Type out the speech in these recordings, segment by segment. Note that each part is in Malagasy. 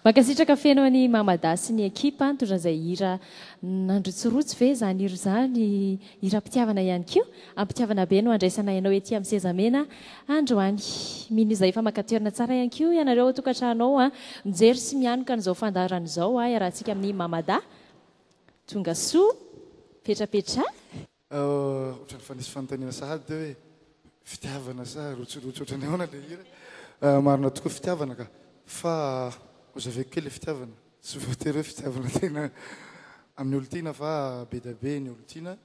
Mankasitraka feno an'i Mama Da sy ny ekipa nitondra izay hira nandrotsirotsy ve izany hira izany, hiram-pitiavana ihany koa, am-pitiavana be no handraisanay anao ety amin'ny sezamena androany. Mino izay efa maka toerana tsara ihany koa ianareo ao an-tokantrano ao, mijery sy mianoka an'izao fandaharana izao iarahantsika amin'i Mama Da. Tongasoa, petrapetraha. Otrany fa nisy fanontaniana sahady teo hoe fitiavana sa rotsirotsy otrany ahoana ilay hira. Marina tokoa fitiavana ka. Fa hozaveko kely le fitiavana. Tsy voatery hoe fitiavana tena amin'ny olon-tiana fa be dia be ny olon-tiana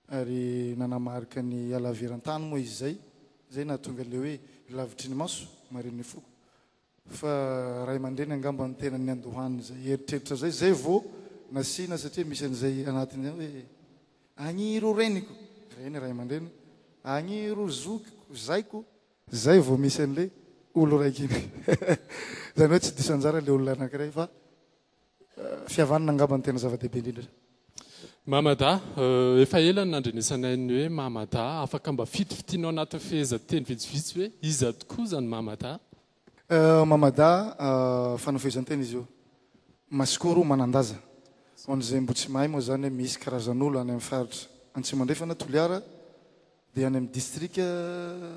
ary nanamarika ny halaviran-tany moa izy izay. Izay nahatonga ilay hoe lavitry ny maso, marin'ny foko. Fa ray aman-dreny angamba no tena niandohan'izay eritreritra izay, izay vao nasiana satria misy an'izay anatiny ao hoe, Agny ireo reniko, reny ray aman-dreny, agny ireo zokiko, zaiko, izay vao misy an'ilay olon-draikiny. Izany hoe tsy diso anjara ilay olona anankiray fa. Fihavanana angamba no tena zava-dehibe indrindra. Mamada, Efa ela no nandrenesanay ny hoe Mamada, afaka mba fitifitinao anatin'ny fehezanteny vitsivitsy hoe iza tokoa izany Mamada? Mamada, Fanao fehezanteny izy io. Masikoro, Manan-daza. Ho an'izay mbo tsy mahay moa izany, misy karazan'olo any amin'ny faritra Antsimo Andrefana, Toliara, Dia any amin'ny distrika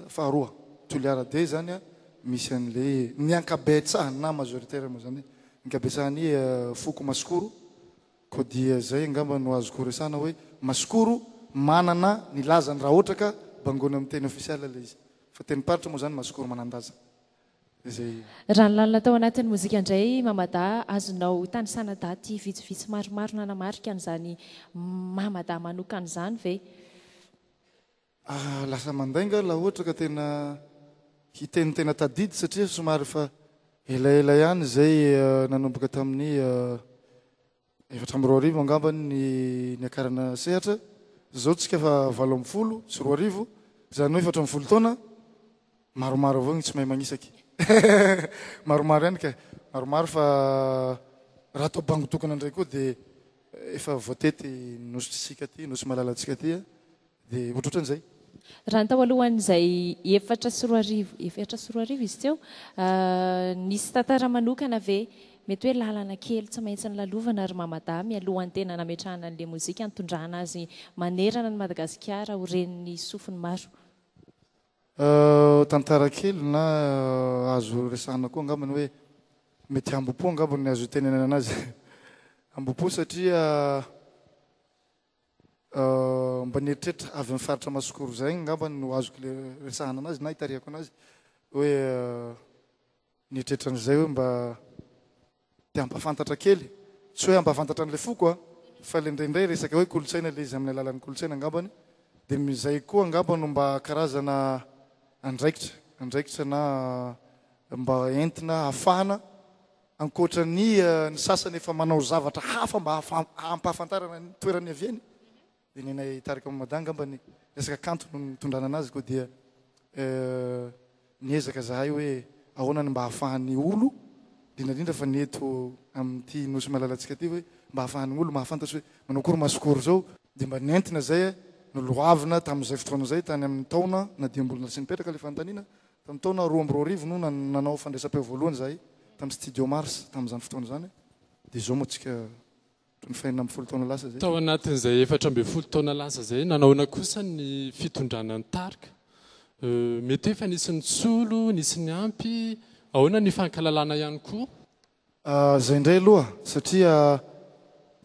faharoa, Toliara D izany, misy an'ilay ny ankabetsaha na majoritaire moa izany, ankabetsahan'ny foko Masikoro. Koa dia izay angamba no azoko resahana hoe Masikoro manana ny lazany raha ohatra ka bangoina amin'ny teny ofisialy ilay izy. Fa tenim-paritra moa izany Masikoro manan-daza. Raha ny lalina tao anatin'ny mozika indray i Mama Da, azonao tanisana daty vitsivitsy maromaro nanamarika an'izany Mama Da manokana izany ve? Ah, lasa mandainga aho laha ohatra ka tena hiteny tena tadidy satria somary efa elaela ihany izay nanomboka tamin'ny Efatra amby roa arivo angamba ny niakarana sehatra, izao tsika fa valo amby folo sy roa arivo, izany hoe efatra amby folo taona, maromaro avao ny tsy mahay magnisaky. Maromaro ihany ka, maromaro fa raha atao bango tokana indray koa dia efa voatety nositsika aty, nosy malalantsika aty. Dia ohatrohatran'izay. Raha ny tao alohan'izay efatra sy roa arivo, efatra sy roa arivo izy teo, nisy tantara manokana ve? Mety hoe lalana kely tsy maintsy nolalovana ry Mamadahy mialohan'ny tena nametrahana ny lemozika nitondrana azy manerana an'i Madagasikara ho ren'ny sofiny maro. Tantara kely na azo resahana koa angambany hoe mety hambom-po angambany ny azo itenenana azy. Hambom-po satria. mba ny eritreritra avy amin'ny faritra Masokoro izay angamba no azoko le resahana anazy na itarihako anazy hoe ny eritreritra an'izay hoe mba te hampafantatra kely tsy hoe hampafantatra an'ilay foko a fa le indraindray resaka hoe kolontsaina le izy amin'ny alalan'ny kolontsaina angambany dia mizay koa angamba no mba karazana andraikitra andraikitra na mba entina hafahana Ankoatra ny ny sasany efa manao zavatra hafa mba hampahafantarana ny toerana niaviany dia ny anay tarika Mamada angamba ny resaka kanto no nitondrana anazy koa dia niezaka zahay hoe ahoana ny mba hahafahan'ny olo indrindra indrindra fa ny eto amin'ity nosy malalantsika ity hoe mba hahafahan'ny olo mahafantatra hoe manao akory maso akory zao dia mba nentina zay noloavina tamin'izay fotoana izay tany amin'ny taona na dia mbola tsy nipetraka ilay fanontaniana Tamin'ny taona roa amby roa arivo no nanao fandraisam-peo voalohany izahay tamin'ny Studio Mars tamin'izany fotoana izany dia izao moa tsika ohatran'ny fahenina ambin'ny folo taona lasa izay. Tao anatin'izay efatra ambin'ny folo taona lasa izay nanaona kosa ny fitondrana ny tarika? Mety hoe efa nisy ny tsolo, nisy ny ampy, ahoana ny hifankalalana ihany koa? Zay ndray aloha satria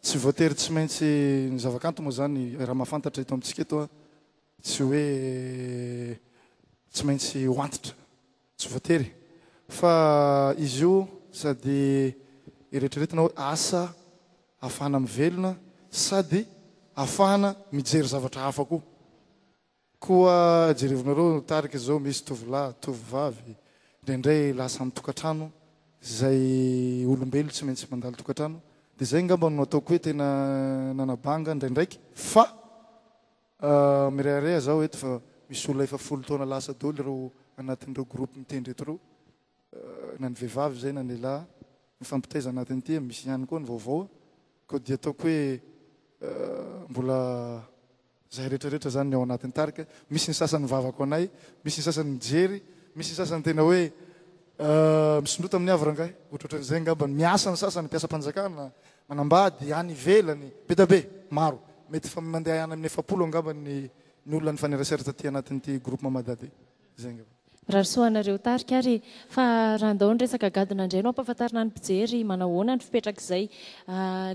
tsy voatery tsy maintsy ny zavakanto moa zany raha mahafantatra eto amintsika eto a tsy hoe tsy maintsy ho antitra tsy voatery fa izy io sady eretreretina hoe asa ahafahana mivelona sady ahafahana mijery zavatra hafa koa Koa jerevinareo ny tarika izao misy tovolahy, tovovavy, indraindray lasa ny tokantrano izay olombelo tsy maintsy mandalo tokantrano dia izay angamba no nataoko hoe tena nanabanga indraindraiky fa mirehareha zaho eto fa misy olona efa folo taona lasa doly ireo anatin'ireo groupe mitendry eto ireo na ny vehivavy izay na ny lehilahy mifampitaiza anatin'ity misy ihany koa ny vaovao koa dia ataoko hoe mbola Zay rehetra rehetra zany ny ao anatin'ny tarika, misy ny sasany mivavako anay, misy ny sasany mijery, misy ny sasany tena hoe misondrota amin'ny havre angahy, ohatrohatran'izay angamba ny miasa ny sasany, mpiasam-panjakana, manambady, any ivelany, be dia be, maro, mety fa mandeha any amin'ny efapolo angamba ny ny olona nifanerasera taty anatin'ity groupe Mamadady. Zay angamba. Mirary soa anareo tarika ary fa raha andao ny resaka gadona indray no ampahafantarina ny mpijery manahoana ny fipetrak'izay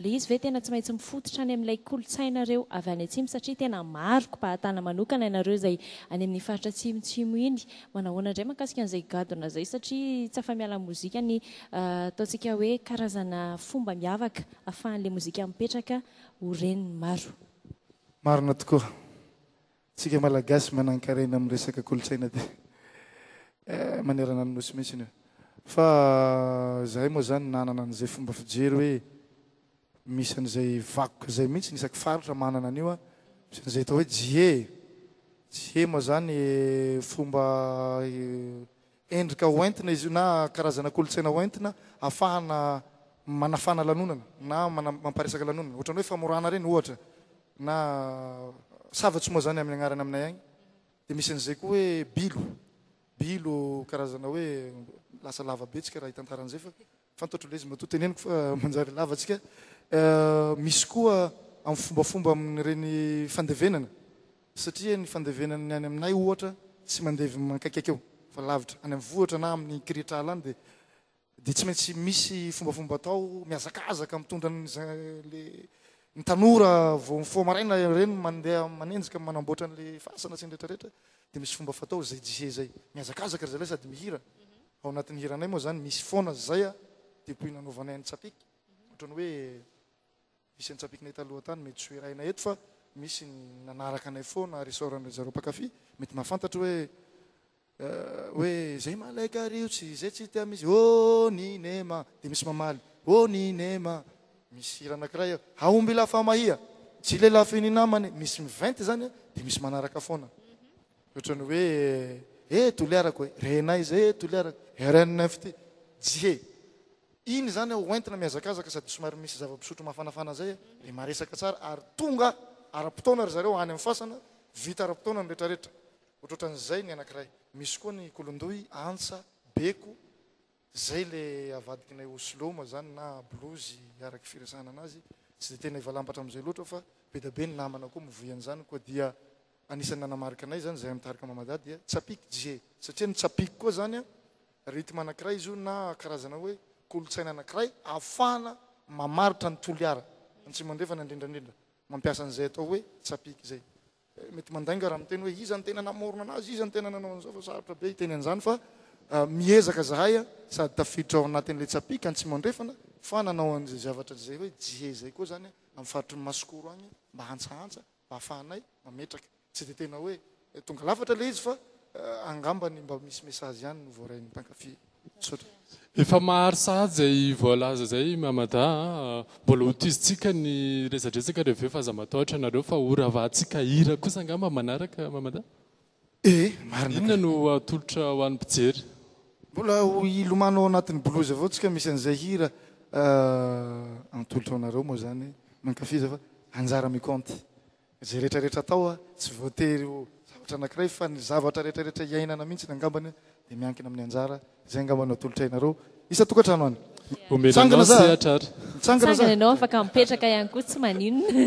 le izy ve tena tsy maintsy mifototra any amin'ilay kolontsainareo avy any atsimo satria tena maro kibahatana manokana ianareo izay any amin'ny faritra atsimotsimo iny manahoana indray makasika an'izay gadona zay satria tsy afa-miala amin'ny mozika ny ataontsika hoe karazana fomba miavaka afahan'le mozika mipetraka ho ren'ny maro. Marina tokoa. Tsika malagasy manankarena amin'ny resaka kolontsaina aty manerana ny nosy mihitsy io. Fa zahay moa zany nanana an'izay fomba fijery hoe misy an'izay vakoka izay mihitsy ny isaky faritra manana an'io a. Misy an'izay atao hoe jie. Jie moa zany fomba Endrika ho entina izy io na karazana kolontsaina ho entina afahana manafana lanonana na mampiresaka lanonana. Ohatran'ny hoe famorana ireny ohatra na sava tsy moa izany amin'ny agnarany aminay agny. Dia misy an'izay koa hoe bilo. Bilo karazana hoe lasa lava be tsika raha hitantara an'izay fa. Fantatro ilay izy matoa teneniko fa manjary lava antsika. Misy koa amin'ny fombafomba amin'ireny fandevenana satria ny fandevenan'ny any aminay ohatra tsy mandevy mankaikaiky eo fa lavitra any amin'ny vohitra na amin'ny kirihitr'ala any dia dia tsy maintsy misy fombafomba atao mihazakazaka mitondra an'ilay ny tanora vao mifoha maraina ireny mandeha manenjika manamboatra an'ilay fasana sy ny rehetrarehetra dia misy fomba fatao izay jie izay mihazakazaka ry zalahy sady mihira Ao anatin'ny hiranay moa zany misy foana zay a, depuis nanaovanay an'i Tsapiky, ohatran'ny hoe misy an'i Tsapikinay taloha tany, mety soherahina eto fa misy ny nanaraka anay foana, resaoran-dry zareo mpankafy, mety mahafantatra hoe hoe zay malay kariotsy, zay tsy tia misy oh Ninema, dia misy mamaly oh Ninema, misy hira anakiray eo, Haombila Famahia, Tsy lelafin'ny namany, misy miventy zany dia misy manaraka foana. Ohatran'ny hoe eh toliarako eh, renay izay eh toliarako, RNFT, Jie. Iny izany aho hoentina mihazakazaka sady somary misy zava-pisotro mafanafana izay eh, dia maresaka tsara ary tonga ara-potoana ry zareo any amin'ny fasana, vita ara-potoana ny rehetrarehetra. Ohatrohatran'izay ny anankiray. Misy koa ny kolondoy, antsa, beko. Zay le avadikinay Oslo moa zany na blues araky firesahana anazy tsy de tena efa lambatra amizay loatra fa bedabe ny namana koa mivoy anzany koa dia anisany nanamarika anay zany zahay mitarika mamadady dia tsapik je satria ny tsapik koa zany a rythme anakiray izy io na karazana hoe kolotsaina anakiray afahana mamaritra ny Toliara antsimo andrefana indrindrandrindra mampiasa anizay atao hoe tsapik zay Mety mandainga raha miteny hoe iza no tena namorona anazy, iza no tena nanao an'izao fa sarotra be hiteny an'izany fa miezaka zahay sady tafiditra ao anatin'ilay Tsapiky Antsimo Andrefana fa nanao an'izay zavatra izay hoe Jie izay koa izany amin'ny faritry ny Masikoro agny mba hantsahantsa mba hahafahanay mametraka. Tsy dia tena hoe tonga lafatra ilay izy fa angambany mba misy message ihany no voarain'ny mpankafy. Misaotra. Efa mahary sahady izay voalaza izay i Mamada a. Mbola ho tohizintsika ny resadresaka reveo fa aza matahotra anareo fa ho ravahantsika hira kosa angamba manaraka Mamada? Ee, marina ka. Inona no atolotra ho an'ny mpijery? Mbola ho hilomano ao anatin'ny blues avao tsika misy an'izay hira atolotra ho anareo moa izany, mankafiza fa anjara mi-compte. Izay rehetra rehetra atao tsy voatery ho zavatra anankiray fa ny zavatra rehetra rehetra iainana mihintsiny angambany dia miankina amin'ny anjara izay angamba no atolotra ianareo isan-tokantrano any. Omena anao sehatra ary. Mitsangana za. Mitsangana ianao afaka mipetraka ihany koa tsy maninona.